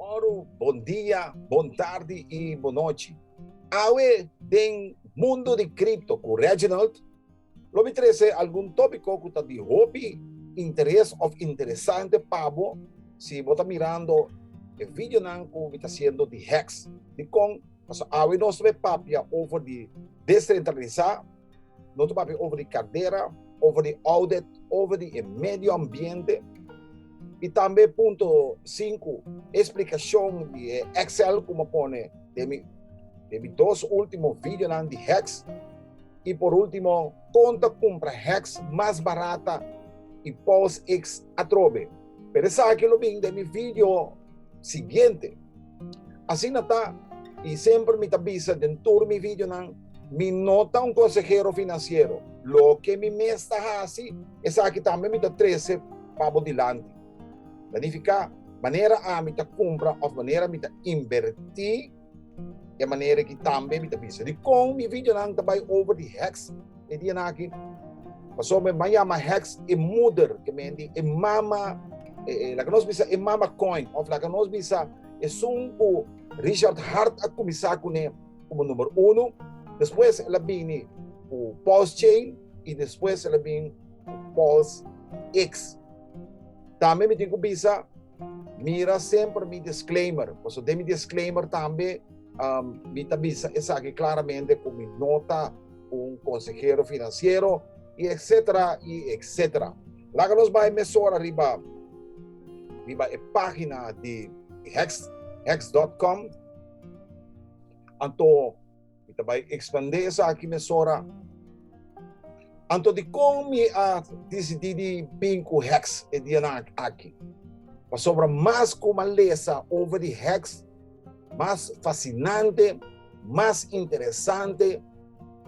Moro, bon dia, bon tardi y bon nochi. Awe den mundo di cripto cu Reginald lo mi trece algun topico cu ta di hopi interes of interesante pa bo si bo ta mirando e videonan cu mi ta haciendo di hex. Dicon? Pasobra awe nos ta papia over di descentralisa. No ta papia over di cadera, over di audit, over di e medio ambiente. Y tambe punto sinku, explicacion di e Excel cu me pone den mi, den mi dos ultimo videonan di Hex. Y por ultimo, con ta cumpra Hex mas barata y Pulse X atrobe. Pero esaki lo bin den mi video siguiente. Asina ta, y semper mi ta bisa den tur mi videonan, mi no ta un consehero financiero, loke mi mes ta haci, esaki tambe mi ta trece pa bo dilanti. Ta nifica, manera ami ta cumpra of manera mi ta inverti, e manera ki tambe mi ta bisa dicon mi videonan ta bay over di hex. e dia nan aki. Paso me man yama heks e moeder, ke mendi e mama, e, e, laka nos bisa e mama coin, of laka nos bisa e sun ku Richard Hart a kumisa kune komo number uno, despues el a bini ku Pulse Chain i despues el a bin ku Pulse X. Tambe mi tin ku bisa, mira semper mi disclaimer, paso den mi disclaimer tambe, um, mi ta bisa esaki klaramente ku mi no ta un consehero financiero y etcetera y etcetera. Laga nos bai mesora riba riba e pagina di hex hex.com anto mi ta bai expande sa aki mesora anto di kon mi a decidi di bin ku hex e dia aki pasobra mas ku malesa over di hex Mas fasinante, mas interesante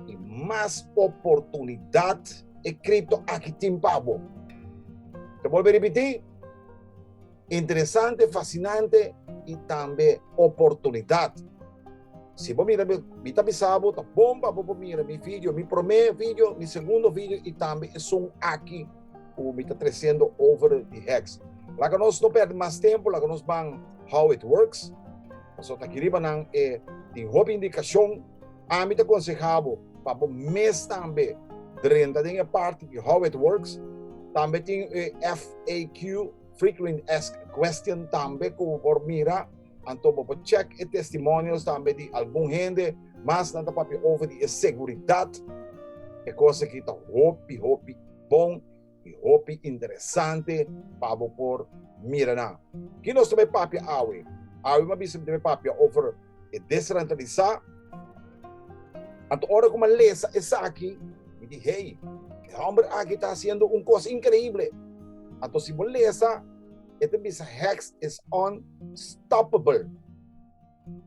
i mas oportunidat e kripto aki tin pa bo. Ta bolbe ripití, interesante, fasinante i tambe oportunidat. Si bo mira mi, mi ta bisa bo ta bon pa bo por mira mi video, mi promé video, mi segundo video i tambe esun aki. Cu mi ta treciendo over di heks. Laga nos no perde mas tempo, laga nos ban How It Works. Pasobra aki riba nan e tin hopi indicacion. Ami ta conseha bo pa bo mes tambe drenta den e parti di How It Works. Tambe tin e FAQ, Frequent Asked Question, tambe cu bo por mira. Anto bo por check e testimonios tambe di algun hende, mas nan ta papia over di e seguridat, e cos aki ta hopi hopi bon y hopi interesante pa bo por mira nan. Ki nos ta bay papia awe? Awe bo a bisa mi ta bay papia over e desrantralisa, anto ora cu mi a lesa esaki mi di hey, e homber aki ta haciendo un cos increible, anto si bo lesa, E ta bisa hex is unstoppable.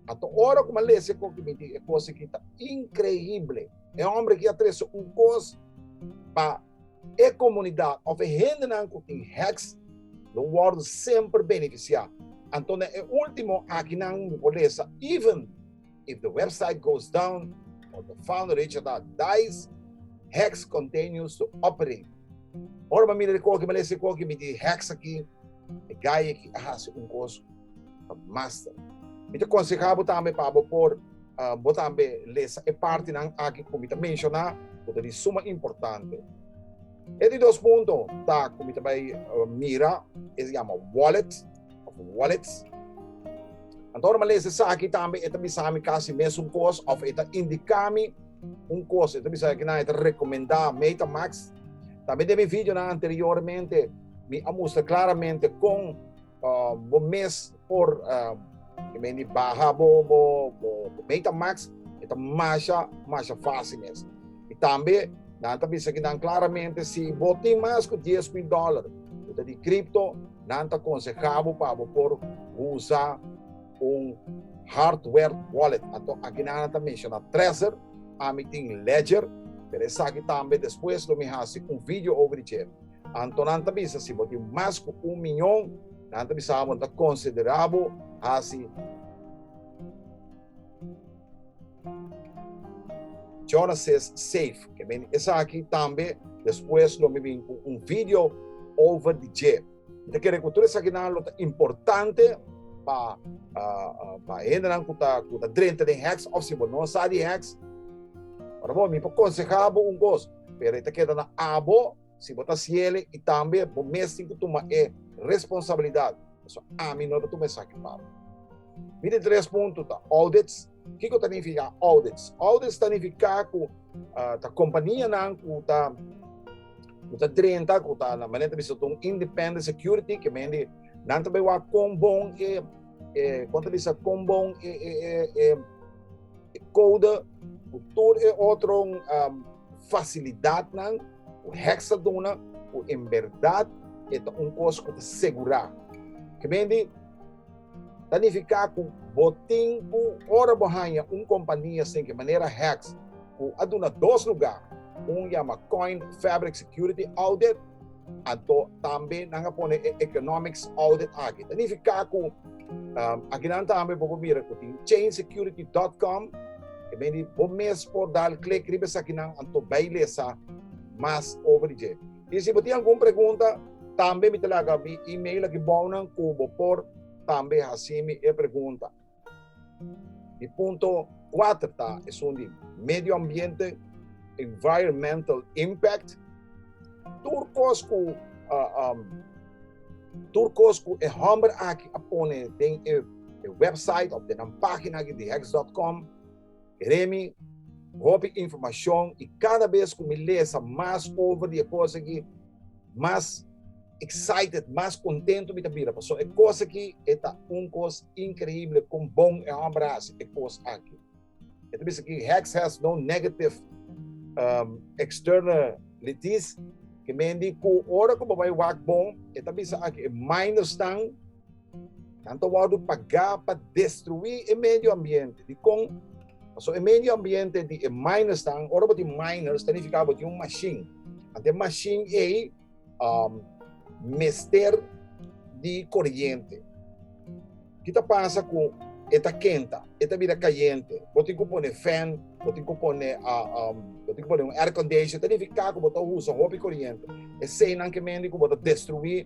Ato ora ku man lese ko ki miti e kos aki ta inkreible. E hombre aki a trese un kos pa e komunidat of e hendenan ku tin hex lo wòrdu semper benefisiá. Anto den e último akinan mi por lesa even If the website goes down or the file reachata dies, hex continues to operate. Ora pa mi na rikoki male si koki mi di hex aki, e gai aki a hasi un kos pa master. Mi ta konseha bo tambe pa bo por bo tambe lesa e partinan aki ku mi ta menshona ku ta di suma importante. E di dos punto ta ku mi ta bai mira, e yama wallet. of un wallet. Anto ora mi lesa esaki tambe e ta bisa mi kasi mesun kos of e ta indika mi un kos. E ta bisa kinan e ta rekomenda MetaMask. Tambe den mi videonan anteriormente mi a mustra klaramente kon uh, bo mes por uh, mendi baha bo, bo, bo, bo MetaMask. E ta masha, masha fácil mes. E tambe nan ta bisa kinan klaramente si bo tin mas ku 10 mil dólar, bo ta di cripto Nan ta konsehá bo pa bo por usa un hardware wallet. Anto aki nan a ta menshoná Trezor, ami tin Ledger, pero esaki tambe despues lo mi hasi un video over di dje. Anto nan ta bisa si bo tin mas ku un miñon, nan ta bisa bo nan ta konsiderá bo hasi. Genesis 7, ke meni esaki tambe despues lo mi bin ku un video over di dje. Mi ta kere ku tur esakinan lo ta importante pa pa hendenan ku ta ku ta drenta den hèks òf si bo no sa di hèks, ora bo mi por konsehá bo un kos, pero e ta keda na abo. Si bo ta siele y tambe bo mes tin cu tuma e responsabilidad, pasobra ami no ta tuma esaki pa bo. Mi di tres punto ta audits. Kico ta nifica audits? Audits ta nifica cu ta companianan cu ta drenta, cu ta, na manera ta bisa, ta un independent security, que mendi nan ta bay wak con bon e. eh, kon ta bisa kon bon e, e, e, e, e code ku tur e otro um, facilidad nan ku heksa duna ku en verdad e ta un kos ku ta segura ke bendi tanifica ku botin ku ora bo hanya un kompania sin ke manera heks ku aduna dos lugar un llama Coin Fabric Security Audit Anto tambe nan a pone e economics audit aki. Ta nifiká ku um, akinan tambe bo por mira ku tin chainsecurity.com ke ben di bo mes por dal klik riba esakinan anto bai lesa mas over di E si bo tin algun pregunta, tambe mi ta laga mi email aki bounan ku bo por tambe hasi mi e pregunta. Di punto 4 ta esun di medio ambiente, environmental impact, tur kos ku uh, um, tur kos ku e homber aki a pone den e, e website of den an pagina aki di hex.com Remy, hopi informacion y cada vez cu mi lesa mas over di e cos aki, mas excited, mas contento mi ta bira, paso e cos aki e ta un cos increible con bon e homber a haci e cos aki. E ta bisa aki Hex has no negative um, external litis, que mean di cu ora cu bo bay wak bon, e ta bisa aki e minor staan Nan ta wòrdu pagá pa destruí e medio ambiente. Dikon? Pasobra e medio ambiente di e minersnan, ora bo tin miners, ta nifiká bo tin un mashin. Anto e mashin ei um, mester di koriente. Ki ta pasa ku e ta kenta, e ta bira kayente. Bo tin ku pone fan, bo tin ku pone, uh, um, bo tin ku pone un air condition. Ta nifiká ku bo ta usa hopi koriente. Eseinan ke mendi ku bo ta destruí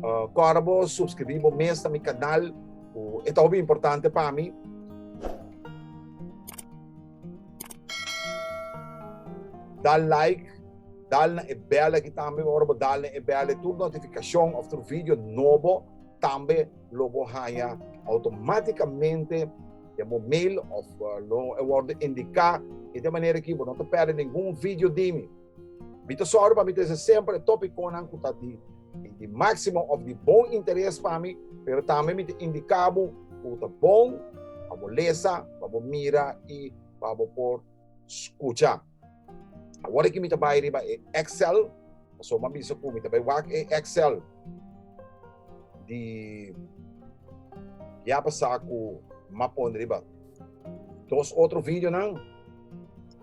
Uh, kora bo subscribí bo mes na mi kanal, uh, e ta hopi importante pa mi. Dal like, dal na e bel aki tambe, ora bo dal na e bel, tur notifikasyon of tur video nobo, tambe lo bo haya automáticamente de mo mail of uh, lo e worde indica e de manera ki bo no te perde ningun video dimi. Mi ta sòru pa mi ta hasi semper e tópikonan ku ta di di máksimo òf di bon interes pa mi, pero tambe mi ta indika bo ku ta bon pa bo lesa, pa bo mira i pa bo por skucha. Awor aki mi ta bai riba e Excel, pasobra bo a bisa ku mi ta bai wak e Excel di kia a pasá ku m'a pon riba. Dos otro videonan.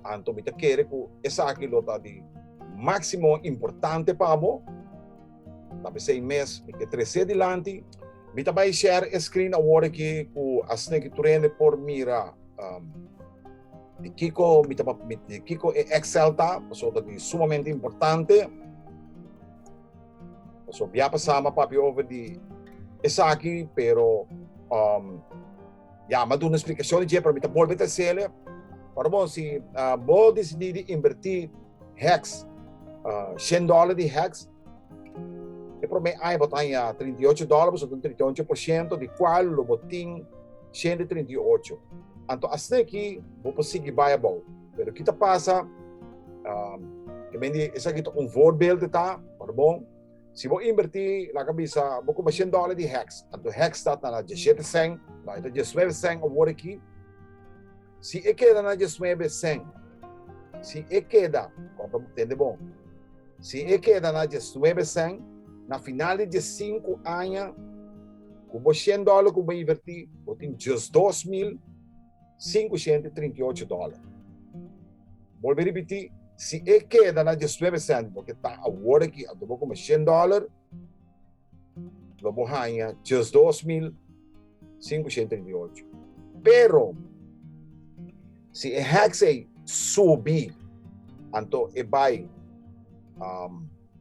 Anto mi ta kere ku esaki lo ta di máksimo importante pa bo. Ta p'esei mes mi ke tres'é dilanti. Mi ta bai share e screen awor aki ku Asneiki Turende por mira di kiko mi ta di kiko e Excel ta, pasobra ta di sumamente importante. Pasobra bia pasá mi a papia over di esaki pero. Ya, m'a duna splikashon di dje, pero mi ta bolbe ta hasi'e. Ora bon, si bo disidí di invertí hèks, shen dòla di hèks, e promé aña bo ta haña trinta i ocho dòla, bo ta duna trinta i ocho por shento di kual lo bo tin shen di trinta i ocho. Anto asta aki bo por sigui bai abou. Pero ki ta pasa, ke men di esaki ta un voorbeeld, ora bon. Si bo invertí, laga bisa, bo kume shen dòler di hèks. Anto hèks ta ta na djeshete sèn, nò e ta djesnuebe sèn e wòrdu akí. Si e keda na djesnuebe sèn, si e keda, kòrda bo, tende bon, si e keda na djesnuebe sèn, na final di djesinku aña, ku bo shen dòler ku bo invertí, bo tin djesdos mil. 538 dòler. Bolbe ripití, si e keda na diesnuebe sèntimo ke ta awor aki anto bo kome shen dòler, lo bo haña diesdos mil sinku shent trinta i ocho. Pero, si e hèks ei subi anto e bai,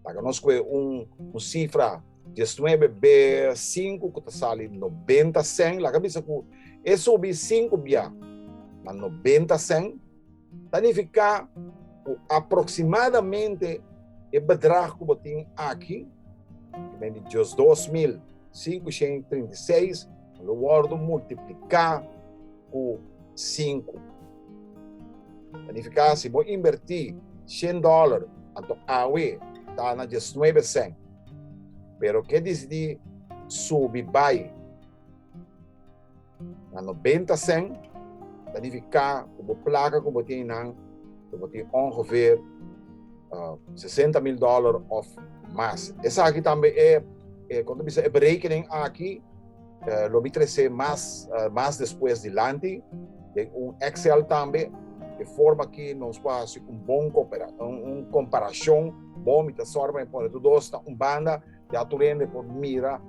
paga nos kue un sifra. 19 B 5 ku ta sali 90 sen laga bisa ku e subi 5 bia na 90 sen ta nifiká ku aproksimadamente e bedrag ku bo tin aki ku ta bini diosdos mil sinku shen i trinta i seis lo wòrdu multipliká ku sinku. Ta nifiká si bo invertí shen dòler anto awe ta na diesnuebe sen. Pero ke disidí subi bai na nobenta sèn ta nifiká ku bo plaka ku bo tin einan lo bo tin ongeveer sesenta mil dòler òf mas. Esaki tambe e, kon ta bisa, e berekening aki. Uh, lo mi trece mas, uh, mas despues dilanti, den un Excel tambe, de forma que nos pa hace un bon coopera, un, un comparacion bon, mi ta sorba en pone dos na un banda, ya tu rende por mira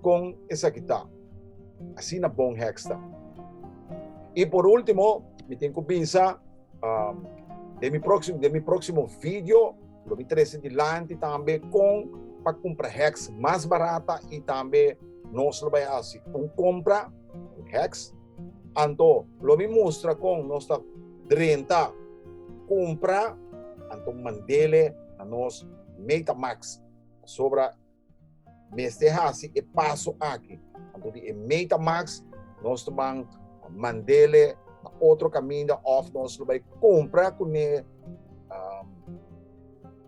con esa kita. Así na bon hexta. Y por último, mi tengo que pensar, um, de mi próximo, de mi próximo video, Lo mi trese dilanti tambe kon pa kumpra hèks mas barata i tambe nos lo bai hasi un kompra di hèks. Anto lo mi mustra kon nos ta drenta kumpra, anto mand'e na nos Metamaks pasobra mester hasi e paso aki. Anto di e Metamax nos ta ban mandele na otro kaminda of nos lo bai kompra kuné um,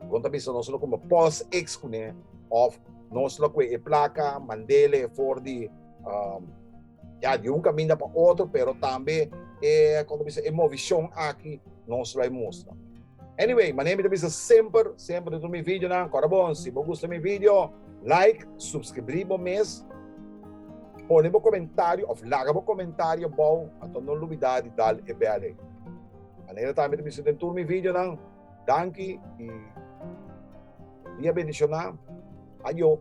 bon ta bisa nos lo kumba pos ex kuné of nos lo kue e plaka mandele for di um, Ya, di un kaminda pa otro, pero tambe e, kon ta bisa, e movishon aki nos lo a mustra. Anyway, manera mi ta bisa semper, semper dentro mi videonan, kora bon, si bo gusta mi video, like, supskribri bo mes, pone bo komentario of laga bo komentario abou, anto no lubida di dal e bel ei. Manera tambe ta bisa den tur mi videonan, Danki y dia bendicioná. Ayo.